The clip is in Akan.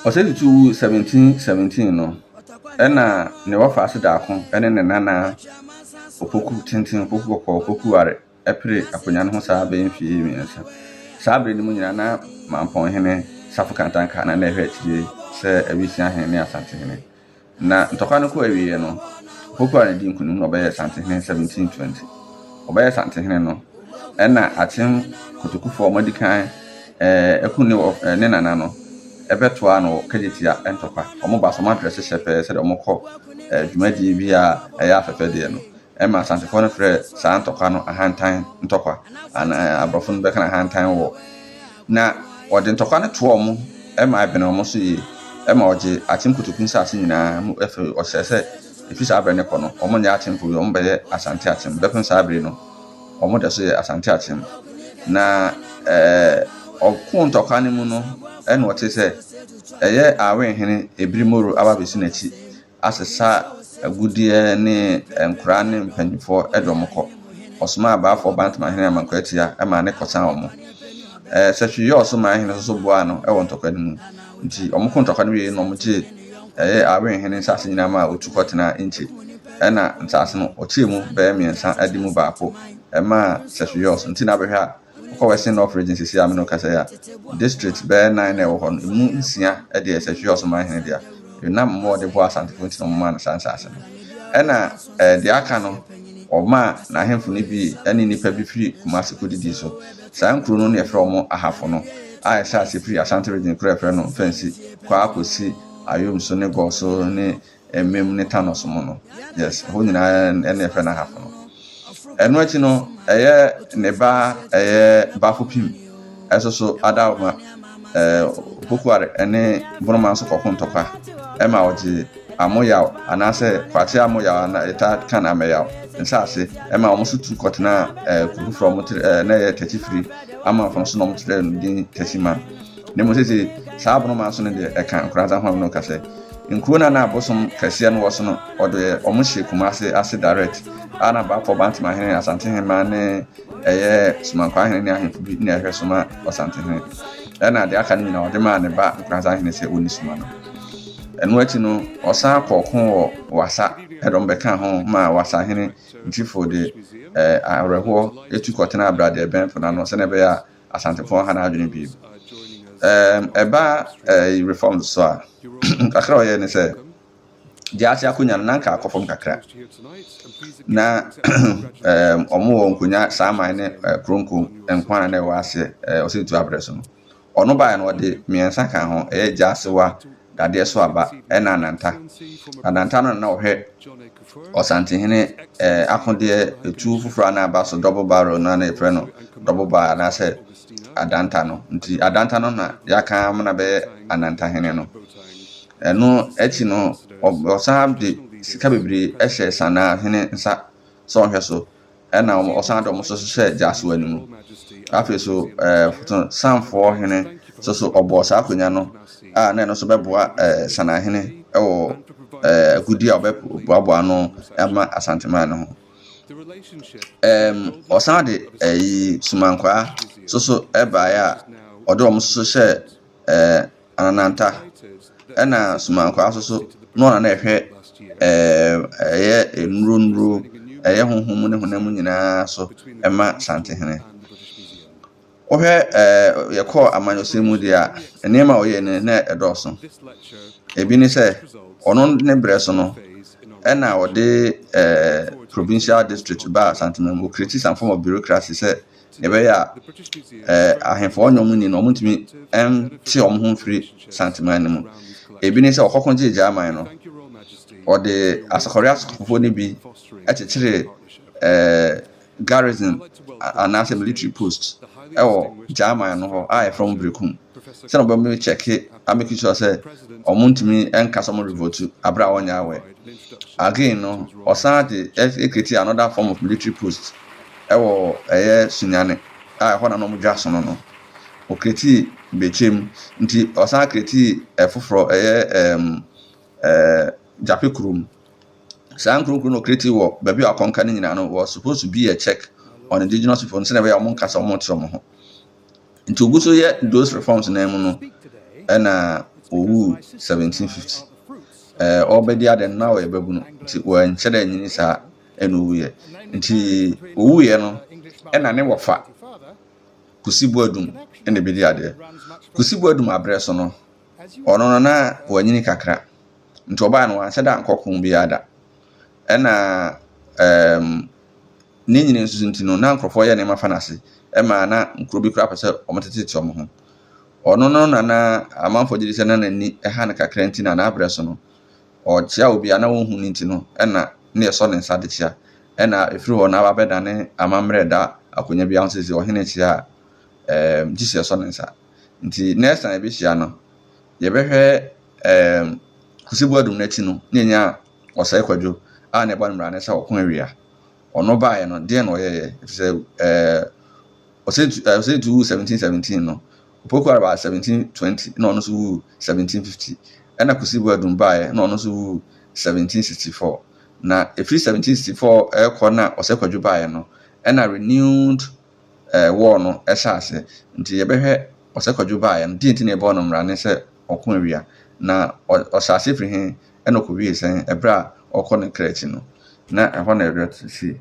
Ɔsɛe Tutu wu 1717 no, nna ne wɔfaase daako ne ne nana Opoku Tenten, Opoku Kɔkɔɔ, Opoku Ware pere akonnwa no ho saa bɛyɛ mfe mmiɛnsa. Saa bere no mu nyinaa na Mampɔnhene, Safo Kantanka na na ɛhwɛ akyiri sɛ Awisiahene ne Asantehene Na ntɔkwa no kɔɔ awieeɛ no, Hokuaa na dii nkonim na ɔbɛyɛɛ Asantehene 1720. Ɔbɛyɛɛ Asantehene no, ɛnna Akyem Kotokufoɔ a wɔadi kan aku ne wɔ ne nana no bɛtoaa no wɔ Kagyetia ntɔkwa. Wɔn baasa wɔadrɛse hyɛpɛɛ sɛdeɛ wɔkɔ dwumadie bi a ɛyɛ afɛfɛdeɛ no. ɛma Asantefoɔ no frɛ saa ntɔkwa no ahantan ntɔkwa anaa aborɔfo no bɛka no ahantan wɔ. Na wɔde ntɔkwa no toɔ mo ɛma ɛbene wɔn so yie ɛma wɔgye Akyem Kotoku nsaase nyinaa mu ɛfiri wɔsrɛ sɛ ɛfiri saa berɛ no kɔ no wɔn nyɛ Akyemfo bio wɔn bɛyɛ Asante Akyem bɛpem saa bere no wɔn dɛ so yɛ Asante Akyem na ɛɛ ɔko ntɔkwa no mu no ɛna wɔte sɛ ɛyɛ Awen hene Ebiri Moro aba bɛsi n'akyi asesa agudeɛ ne nkwadaa ne mpanimfoɔ de wɔn kɔ. Ɔsomaa abaafoɔ baa Ntomanhene Aman Kwaatia ma ne kɔsaa wɔn. Ɛɛ Sɛhwɛyie a ɔso maa hene nso boaa no wɔ ntɔkwa no mu. Nti wɔko ntɔkwa no wieeɛ no wɔgyee ɛyɛ Awen hene nsase nyinaa maa ɔtu kɔtenaa Inkye. Ɛna nsase no ɔkyɛɛ mu bɛyɛ mmiɛnsa de mu baako maa Sɛhwɛyie a ɔso. Nti na bɛhwɛ a. Wokɔ Western North Region sisi a me ne wo kasa yi a, districts bɛyɛ nan na ɛwɔ hɔ no, emu nsia deɛ ɛsɛ Hwiɔs ɔmanhene dea. Yonam mmoa a ɔde boaa Asantefo nti na wɔmaa no saa nsaase no. Ɛnna eh, deɛ aka no, wɔmaa n'ahemfo no bi ne nnipa bi firi Kumasi kodidii so. Saa nkuro no na yɛfrɛ wɔn Ahafo no, a ɛhyɛ ase firi Asante Region kuro a yɛfrɛ no Mfɛnsi kɔ ara kɔsi Ayom so ne Gɔɔ so ne Emem ne Tanos mu no. Yes, ɛhɔ nyinaa ne ɛfɛ no ahafo no. Ɛno akyi no, ɛyɛ ne ba ɛyɛ Bafopim, ɛso so Adaoma, ɛɛ Pokuare ɛne Boroma nso kɔko ntɔkwa ɛma ɔgye Amoyaw anaasɛ Kwakye Amoyaw ana yɛta kan Ameyaw nsaase ɛma wɔn nso tu kɔtena ɛɛ kuro foforɔ wɔn kyerɛ ɛɛ na ɛyɛ Tɛkyifiri amanfo no so na wɔn kyerɛ no din Tɛkyima. Na mmom seesei saa aborɔmaa so no deɛ ɛka nkoradza ho a ɔno ɔka sɛ, Nkurow no a na abosom kɛseɛ no wɔ so no, wɔde wɔn hyee Kumase ase direct, a na Baafoɔ Bantemahene, Asantehemaa ne ɛyɛ Somankwahene ne ahemfo bi na ɛhwɛ so ma Ɔsantehene. Ɛna deɛ aka no nyinaa ɔde maa ne ba Nkoranzahene sɛ ɔnni so ma no. Ɛno akyi no, ɔsan kɔɔ ko wɔ Wassa, ɛdɔm bɛkaa ho ma Wassahene Ntrifo de awerɛhoɔ tu kɔtenaa Bradeɛbɛn po no ano sɛdeɛ ɛbɛyɛ a Asantefoɔ ha n'adwene bio. Um, ɛba uh, reform so a, kakra ɔyɛ ne sɛ, gya ase akonnwa no nanka akɔ fam kakra. Na um, ɔmo wɔ nkonnwa saa man ne uh, kronko nkwa na ɛwɔ aseɛ uh, ɔsɛ tu abrɛ so no. Ɔno baeɛ no ɔde mmiɛnsa ka ho, ɛyɛ gya asewa, dadeɛ so aba, ɛna ananta. Ananta no na ɔhwɛ Ɔsantehene akodeɛ etuo foforɔ a na aba so double barrel no a na yɛfrɛ no double bar anaasɛ adanta no nti adanta no na yɛaka ama no abɛyɛ anantahene no ɛno akyi no ɔsan de sika bebree hyɛ sanaa hene nsa sɛ ɔnhwɛ so ɛna wɔn ɔsan de wɔn nso hyɛ gyasoa no mu afei so ɛɛ foto sanfoɔ hene nso so ɔbɔɔ saa akonnwa no a na ɛno nso bɛboa ɛɛ sanahene ɛwɔ ɛɛ agudi a ɔbɛboaboa ano ama asanteman no ho ɛɛm ɔsan de ɛyi sumankwaa nso so ɛbaeɛ a ɔde wɔn nso hyɛ ɛɛ. anananta, ɛna somankwaa nso so na ɔno na ɛhwɛ ɛyɛ nnuro nnuro, ɛyɛ honhom mu ne honam mu nyina ara so ma Asantehene. Wohwɛ ɛɛ yɛkɔɔ amanyɔsɛm mu deɛ a, nneɛma a ɔyɛɛ no na ɛdɔɔso. Ebi ne sɛ, ɔno ne berɛ so no, ɛna ɔde ɛɛ provincial district baa Asantehene mu, ɔkriti some form of bureaucracy sɛ, Nea ɛbɛyɛ a eh, ahemfo a ɔne wɔn nni no, wɔntumi nte wɔn ho mfiri Santeman no mu. Ebi ne sɛ ɔkɔko gyee Gyaman no, ɔde asɔkɔre asɔkɔfoɔ no bi kyekyeree eh, garrison anaasɛ military post wɔ Gyaman no hɔ a yɛfrɛ mu Berekum sɛdeɛ wɔbɛmi kyɛke ameki sure sɛ wɔntumi nka sɛ wɔn revoltu aberɛ a wɔnyɛ awɛ. Again no, ɔsan de ɛkreti another form of military post wɔ ɛyɛ Sunyani a ɛhɔ na na wɔdwa sono no. Ɔkreatii Bekyem, nti ɔsan kreatii ɛfoforɔ ɛyɛ ɛɛm ɛɛ Gyape Kurom. Saa nkuro nkuro na ɔkreatii wɔ baabi a wakɔnka no nyinaa no was supposed to be a check on indigenous people no sɛdeɛ ɛbɛyɛ a wɔnka sɛ wɔte wɔn ho. Nti ɔgu so yɛ those reforms no mu no ɛna ɔwuu 1750. Ɛɛ ɔrebɛdi adeɛ no na ɔyɛ babunu nti wanhyɛ da nyini saa. na ɔwuiɛ. Nti ɔwuiɛ no na ne wɔfa Kusi Boadum na ɛbɛdi adeɛ. Kusi Boadum aberɛ so no, ɔno no na wanyini kakra. Nti ɔbaa no wanhyɛ da ankɔ ko biara da. Ɛna ɛɛm ne nyini nso nti no na nkurɔfoɔ yɛ nneɛma fa no ase. Ɛma na nkuro bi koraa pɛ sɛ wɔtetete wɔn ho. Ɔno no na na amanfoɔ gye di sɛ na n'ani ha no kakra nti na n'aberɛ so no ɔkyea obi a na wonhu no nti no na na yɛsɔ ne nsa de kyea. Ɛnna ɛfiri hɔ no aba abɛdane amammerɛ da akonnwa biara ho sɛ sɛ ɔhene kyea a, ɛɛm, gye sɛ yɛsɔ ne nsa. Nti next time yɛbɛhyia no, yɛbɛhwɛ ɛɛm, Kwesi Boadum no akyi no, na yɛnya Ɔsɛe Kwadwo a na ɛbɔ ne mmara no sɛ ɔko awia. Ɔno baeɛ no, deɛn na ɔyɛeɛ? Ɛfiri sɛ ɛɛ, Ɔsɛe Tu ɛɛ, Ɔsɛe Tu wuu 1717 no, Opoku Araba 1720 na ɔno nso wuu 1750, ɛnna Kwesi Boadum baeɛ na ɔno nso wuu 1764. Na ɛfiri 1764 rekɔ na Ɔsɛ Kwadwo baeɛ no, ɛnna renewed eh, war no hyɛɛ aseɛ. Nti yɛbɛhwɛ Ɔsɛ Kwadwo baeɛ no, deɛ nti na yɛbɔɔ no mmara ne sɛ ɔko awia, na ɔ, ɔhyɛɛ aseɛ firi he, ɛnna ɔkɔwiee sɛn, ɛberɛ a ɔrekɔ ne kra akyi no, na ɛhɔ na ɛwerɛ te sei.